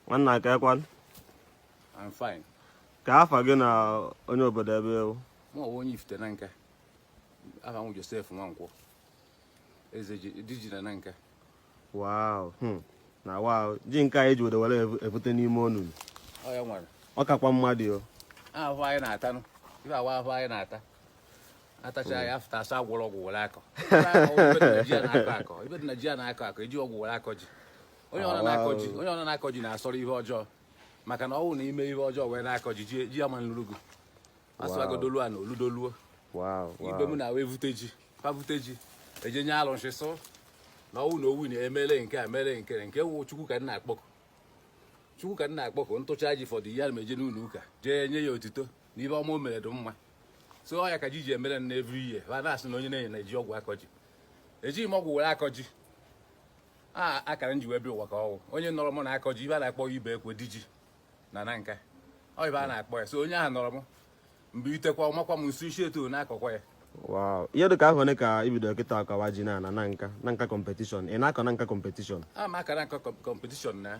nwanna kee kwan I'm fine. kee afa gị na onye obodo ebe ị wụ Mụ a wụ onye Ifite Nanka. Aha m Josef Nwankwọ. Eze ji di ji na Nanka. wow hmm. na wa ji nke anyị ji were were ebu- ebute n'ime ọnụnụ Ọ ya nwere. ọ kakwa mmadụ o Ahụhụ anyị na-atanụ. Ife a wụ ahụhụ anyị na-ata. atacha ya afta a sị agwọrọ ọgwụ were akọ ive dị na ji a na-akọ akọ eji ọgwụ were akọ ji onye ọna na-akọ ji onye ọna na-akọ ji na-asọrọ ihe ọjọọ maka na ọ bụrụ na i mee ihe ọjọọ wee na-akọ ji ji ama nluru gị asụagodolu a na oludoluo ive m na wee vute ji pa vute ji eje nye alụsị sị na ọnwụ na owu na emele nke a mere nke nke wụ chukwu ka m na-akpọku chukwu ka m na-akpọku ntụcha ji fọdụ ya na eje n'ụlọ ụka jee nye ya otito na ive ọma o mere dị mma so ọ ya ka ji ji emere na every year ha na-asị na onye na-enye na eji ọgwụ akọ ji ejighị m ọgwụ were akọ ji a akara m ji wee bịa ụwa ka ọ wụ onye mụrụ m na-akọ ji ive a na-akpọ Ibekwe di ji na Nanka ọ ive a na-akpọ ya so onye ahụ mụrụ m mgbe itekwa ọmakwa m nso isi eto na-akọkwa ya Wow. Ihe dị ka ahọ ole ka i bido kịta akọwa ji na na Nanka Nanka competition ị na-akọ Nanka competition a ma akara nka competition na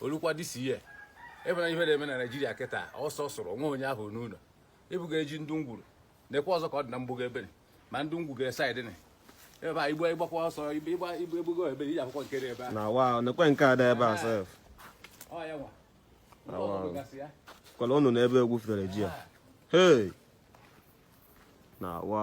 olukwa this year ive na ive na-eme na Nigeria kịta ọsọ sụrụ nwa onye ahụ n'ụnọ ebuga ji ndụ m gwuru nekwa ọzọ ka ọ dị na m bugo ebe ni ma ndụ m gwuga side ni ebe a igbe ịgbakwa ọsọ igbe egbugo ebere iji akwụkwọ nke dị ebe a na wa nekwa nke a dị ebe a sef kwala ọnụnụ ebe e gwufere ji a hei na wa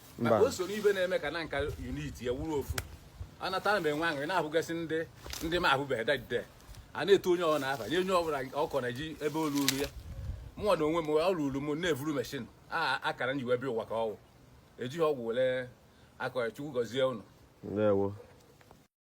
maka o soro ive na-eme ka Nanka unitie a wụrụ ofu anatara m enwe aṅụrị na-ahụgasị ndị ndị m ahụbeghị dadide a na-etu onye ọbụla afa ya onye ọbụla akọnụ ji ebe o ruru ya mụnwa na onwe m o ruru m na-evuru machine a akara m ji wee bịa ụwa ka ọ wụ ejighị ọgwụ were akọ chukwu gọzie unu